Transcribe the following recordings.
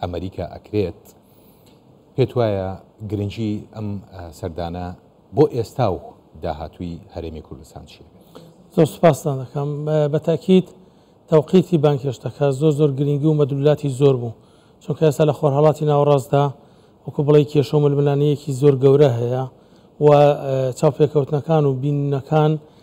ئەمریکا ئەکرێت، پێت وایە گرنگی ئەم سەردانە بۆ ئێستا و داهاتووی هەرێمی کوردستان چیە بێت؟ زۆر سوپاستان دەکەم، بەتاکیت تەوقیتی بانگهێشتەکە زۆر زۆر گرنگی و مەدلولاتی زۆر بوو، چونکە ئێستا لە خۆرهەڵاتی ناوەڕاستدا وەکو بڵێ کێشە و ململانێیەکی زۆر گەورە هەیە و چاوپێکەوتنەکان و بینینەکان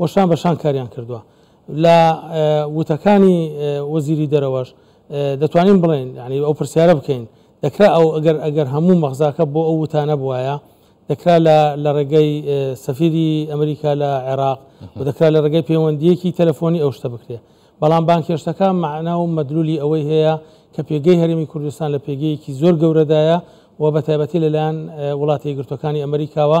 و شان بە شان کاریان کردووە. لە وتەکانی وەزیری دەرەوەش دەتوانین بڵێین یانی ئەو پرسیارە بکەین دەکرا ئەو ئەگەر ئەگەر هەموو مەغزاکە بۆ ئەو وتانە بواە دەکرا لە ڕێگەی سەفیری ئەمریکا لە عێراق و دەکرا لە ڕێگەی پەیوەندیەکی تەلەفۆنی ئەو شتە بکرێت بەڵام بانکێشتەکە معنا و مەدلولی ئەوەی هەیە کە پێگەی هەرمی کوردستان لە پێگەیەکی زۆر گەورەدایە و بە تایبەتی لەلایەن وڵاتی گرتوەکانی ئەمریکاوە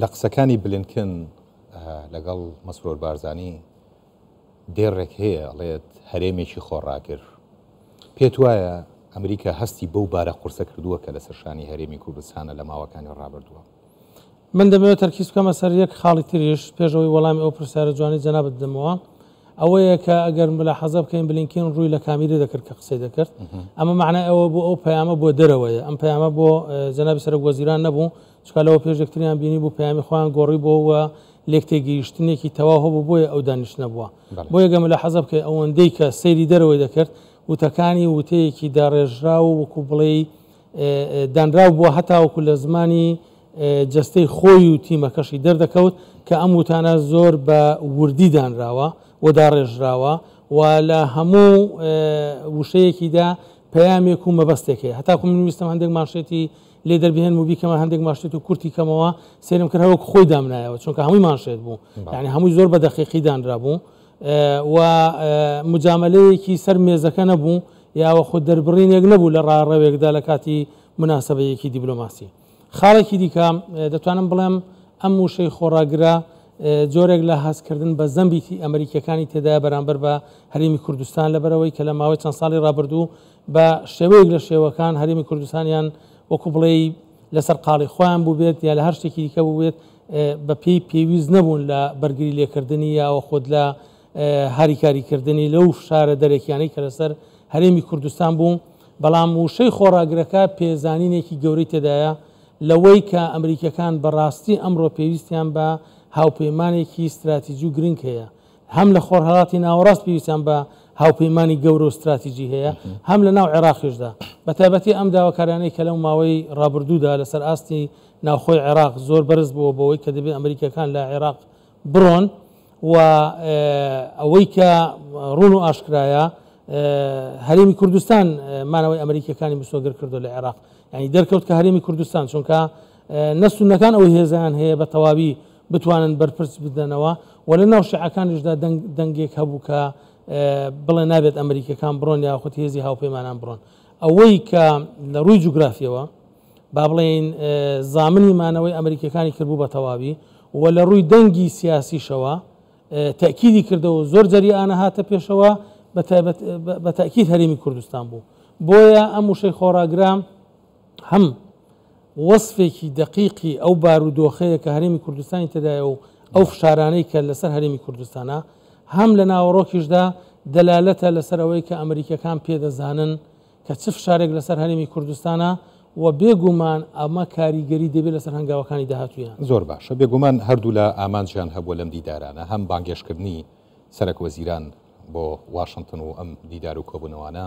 لە قسەکانی بلینکن لەگەڵ مەسرۆر بارزانی دێڕێک هەیە ئەڵێت هەرێمێکی خۆڕاگر. پێت وایە ئەمریکا هەستی بەو بارە قورسە کردووە کە لەسەر شانی هەرێمی کوردستانە لە ماوەکانی ڕابردووە؟ من دەمەوێت تەرکیز بکەمە سەر یەک خاڵی تریش، پێش ئەوەی وەڵامی ئەو پرسیارە جوانەی جەنابت بدەمەوە، ئەوەیە کە ئەگەر ملاحەزە بکەین بلینکین ڕووی لە کامیری دەکرد کە قسەی دەکرد، ئەمە مەعنای ئەوە بوو ئەو پەیامە بۆ دەرەوەیە، ئەم پەیامە بۆ جەنابی سەرۆک وەزیران نەبوو، چونکە لەوە پێش یەکتریان بینیبوو، پەیامی خۆیان گۆڕیبووە و لێکتێگەیشتنێکی تەواو هەبوو، بۆیە ئەو دانیشتنە بووە. بۆیە گەر مولەحەزە بکەی ئەوەندەی کە سەیری دەرەوەی دەکرد، وتەکانی وتەیەکی داڕێژراو و وەکوو بڵێی دانراو بووە، هەتاوەکوو لە زمانی جەستەی خۆی و تیمەکەشی دەردەکەوت کە ئەم وتانە زۆر بە وردی دانراوە و داڕێژراوە و لە هەموو وشەیەکیدا پەیامێک و مەبەستێک هەیە. هەتاکوو من ویستم هەندێک مانشێتی لێ دەربهێنم و بیکەمە هەندێک ماشێت و کورتی کەمەوە سێرم کرد هەوەک خۆی دامنایەوە چونکە هەمووی ماشێت بوو یعنی هەمووی زۆر بە دەقیقی دانرا بوو و مجاملەیەکی سەر مێزەکە نەبوو یاوە خۆ دەربڕینێک نەبوو لە ڕاڕەوێکدا لە کاتی مناسبەیەکی دیبلۆماسی خاڵێکی دیکە دەتوانم بڵێم ئەم وشەی خۆڕاگرە جۆرێک لە هەستکردن بە زەمبیتی ئەمریکیەکانی تێدا بەرامبەر بە هەرێمی کوردستان لەبەرەوەی کە لە ماوەی چەند ساڵی ڕابردوو بە شێوەیەک لە شێوەکان هەرێمی کوردستان یان وەکو بڵێی لە سەرقاڵی خۆیان بووبێت یا لە هەر شتێکی دیکە بووێت بە پێی پێویست نەبوون لە بەرگری لێکردنی یاوە خۆت لە هاریکاریکردنی لەو فشارە دەرەکیانەی کە لەسەر هەرێمی کوردستان بوو بەڵام وشەی خۆڕاگرەکە پێزانینێکی گەورەی تێدایە لەوەی کە ئەمریکەکان بەڕاستی ئەمڕۆ پێویستیان بە هاوپەیمانێکی ستراتیجی و گرنگ هەیە هەم لە خۆرهەڵاتی ناوەڕاست پێویستیان بە هاوپەیمانی گەورە و ستراتیجی هەیە هەم لە ناو عێراقیشدا بە تایبەتی ئەم داواکارانەی کە لەو ماوەی ڕابردوودا لەسەر ئاستی ناوخۆی عێراق زۆر بەرز بووە بەوەی کە دەبێت ئەمریکەکان لە عێراق بڕۆن و ئەوەی کە ڕون و ئاشکرایە هەرێمی کوردستان مانەوەی ئەمریکەکانی مسۆگر کردو لە عێراق ینی دەرکەوت کە هەرێمی کوردستان چونکە نەسونەکان ئەو هێزیان هەیە بە تەواوی بتوانن بەرپرس بدەنەوە و لە ناو شعەکانیشدا دەنگێک هەبوو کە بڵێ نابێت ئەمریکەکان بڕۆن یاخود هێزی هاوپەیمانان بڕۆن ئەوەی کە لە ڕووی جوگرافیەوە با بڵێین زامنی مانەوەی ئەمریکەکانی کردبوو بە تەواوی و لە ڕووی دەنگی سیاسیشەوە تاکیدی کردەوە زۆر جەریانە هاتە پێشەوە بە تاکیید هەرێمی کوردستان بوو بۆیە ئەم وشەی خۆراگرام هەم وەسفێکی دەقیقی ئەو بارودۆخەیە کە هەرێمی کوردستانی تێدایە و ئەو فشارانەی کە لەسەر هەرێمی کوردستانە هەم لە ناوەڕۆکیشدا دەلالەتە لەسەر ئەوەی کە ئەمریکەکان پێدەزانن کە چ فشارێک لەسەر هەرێمی کوردستانە و بێگومان ئەمە کاریگەری دەبێت لەسەر هەنگاوەکانی داهاتویان زۆر باشە بێگومان هەردوو لە ئامانجیان هەبووە لەم دیدارانە هەم بانگێشتکردنی سەرک وەزیران بۆ واشنگتن و ئەم دیدار و کۆبوونەوانە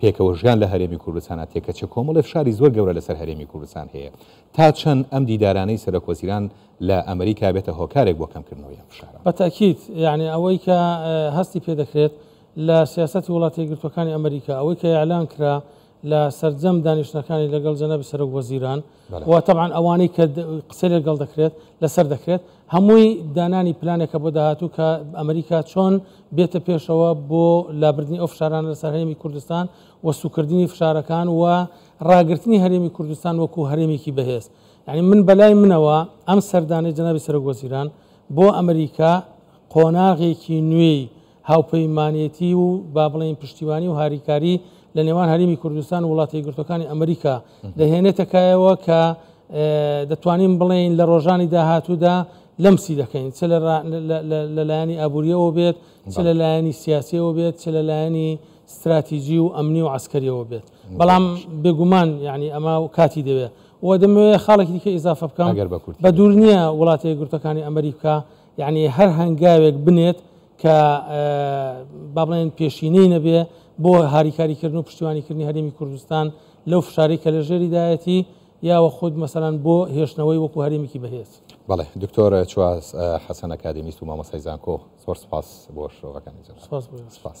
پێکەوەژیان لە هەرێمی کوردستانا تێکەچە کۆمەڵی فشاری زۆر گەورە لەسەر هەرێمی کوردستان هەیە تا چەند ئەم دیدارانەی سەرۆک وەزیران لە ئەمریکا بێتە هۆکارێک بۆ کەمکردنەوەی ئەم فشارە. بە تەئکید یەعنی ئەوەی کە هەستی پێ دەکرێت لە سیاسەتی وڵاتە یەکگرتووەکانی ئەمریکا ئەوەی کە ئیعلان کرا لە سەرجەم دانیشتنەکانی لەگەڵ جەنابی سەرۆک وەزیران، و تەبعەن ئەوانەی کە قسەی لەگەڵ دەکرێت لەسەر دەکرێت هەمووی دانانی پلانێکە بۆ داهاتوو کە ئەمریکا چۆن بێتە پێشەوە بۆ لابردنی ئەو فشارانە لەسەر هەرێمی کوردستان و سوکردنی فشارەکان و ڕاگررتنی هەرێمی کوردستان وەکو هەرێمێکی بەهێز یعنی من بەلای منەوە ئەم سەردانەی جنابی سەرۆک وەزیران بۆ ئەمریکا قۆناغێکی نوێی هاوپەیمانێتی و با بڵێین پشتیوانی و هاریکاری لە نێوان هەرمی کوردستان و وڵاتی گرتوەکانی ئەمریکا دەهێنێتە کایەوە کە دەتوانین بڵێین لە ڕۆژانی داهاتوودا لەمسی دەکەین چ لەلایەنی ئابووریەوە بێت چ لە لایەنی سیاسیەوە بێت چ لە لایەنی استراتیژی و ئەمنی و عسکەریەوە بێت بەڵام بێگومان یعنی ئەمە و کاتی دەوێت و دەمەوێت خاڵێکی دیکە ئیزافە بکەم بە دوور نییە وڵاتی گرتەکانی ئەمریکا یەعنی هەر هەنگاوێک بنێت کە با بڵێن پێشینەی نەبێ بۆ هاریکاریکردن و پشتیوانیکردنی هەرێمی کوردستان لەو فشاری کە لە ژێریدایەتی یاوە خود مەسەران بۆ هێشتنەوەی وەکو هەرێمێکی بەهێز بەڵێ دکتۆر چواز حەسەن ئەکادمیست و مامەسای زانکۆ زۆر سپاس بۆ شرۆڤەکانی جەناب سپاس.